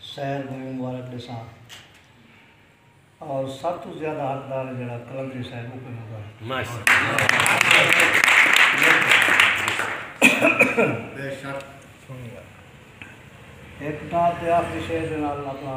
سیر دی وی مبارک ڈیساں اور سب تو زیادہ حقدار ہے جڑا کلندری صاحب اوکے مبارک بے شک ایک ٹاپ تے آخری شعر دے نال اپنا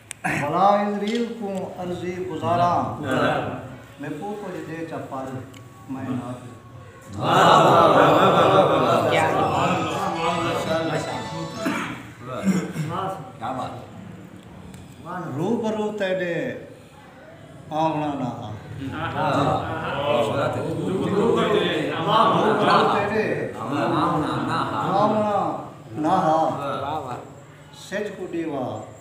بھلا عزریل کوں عرضی گزاراں میکوں کجھ ڈے چا پل میں روبرو تیڈے آونڑاں نہ ہا سچ کوں ڈیوا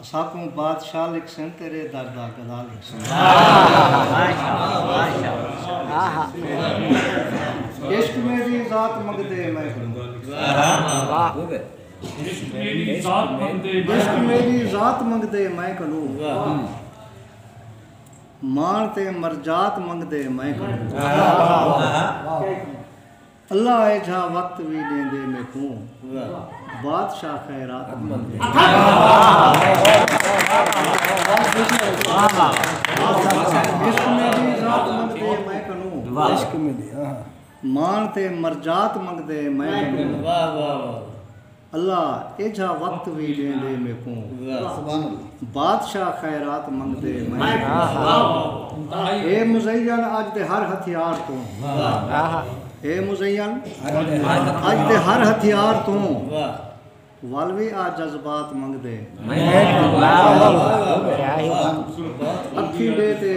اساکوں بادشاہ لکھسن تیرے در دا گدا لکھسن۔ عشق میڈی ذات منگدے میں گدا لکھسن۔ اللہ ایجھا وقت وی ݙیندے میکوں بادشاہ خیرات مانگدے اللہ ایجھا وقت وی ݙیں ݙے میکوں بادشاہ خیرات منگدے منگدے اے مزین اڄ دے ہر ہتھیار توں اے مزین اڄ دے ہر ہتھیار توں ول وی آ جذبات منگدے اکھیں ݙے تے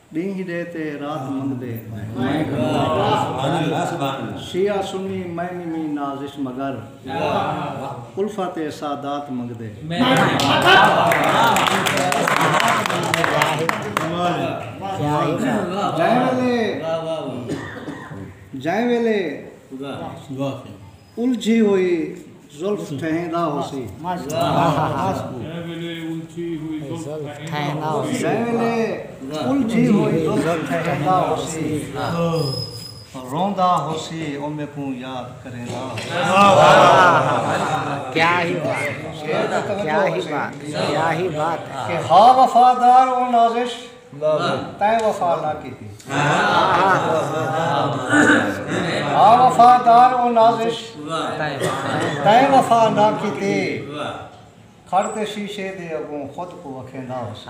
ݙینہہ ݙے تے رات منگدے شیعہ سنی میں نی میں نازش مگر الفت اے سادات منگدے جئیں ویلے جئیں ویلے الجھی ہوئی زلف ٹھہیندا ہوسی۔ جیں ویلے الجھی ہوئی زلف ٹھہیندا ہوسی۔ جیں ویلے الجھی ہوئی زلف ٹھہیندا ہوسی۔ روندا ہوسی او میکوں یاد کریندا ہوسی۔ کہ ہا وفادار او نازش۔ تیں وفا نہ کیتی ہا وفادار او نازش تیں وفا نہ کیتی کھڑ تے شیشے دے اگوں خود کوں اکھیندا ہوسی۔